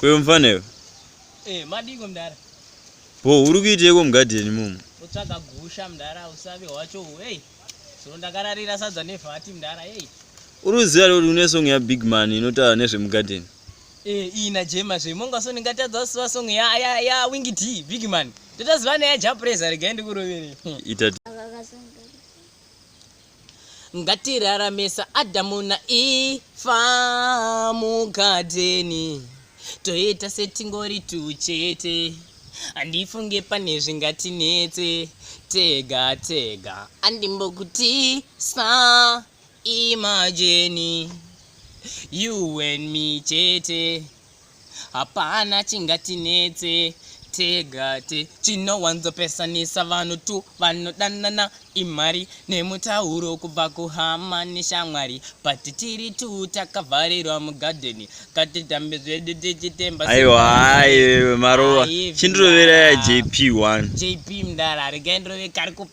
Kwewe mfana iwe. Eh, madiko mdara. Bo, uri kuiteko mugarden mumu? Utsvaga gusha mdara, usavi wacho. Hey. So ndakararira sadza nevati mdara. Hey. Uri kuziva kuti une song ya Big Man inotaura nezve mugarden? Eh, iyi na Jema zve monga so ndingatadza kusiva song ya ya ya Wingy D big man. Totaziva na ya Japreza rega ndi kurovere. Ita Ngatiraramesa Adamu na Eva mugadheni toita setingori tuchete handifunge pane zvingatinetse tega tega andimbokutisa Imagine you and me chete hapana chingatinetse tegate chinowanzopesanisa vanhu tu vanodanana imari nemutauro kubva kuhama neshamwari but tiri tu takavharirwa mugadheni katitambe zvedu tichitemba aiwa maruva chindiroveraya jp 1 jp mdara regaindrove kari kupa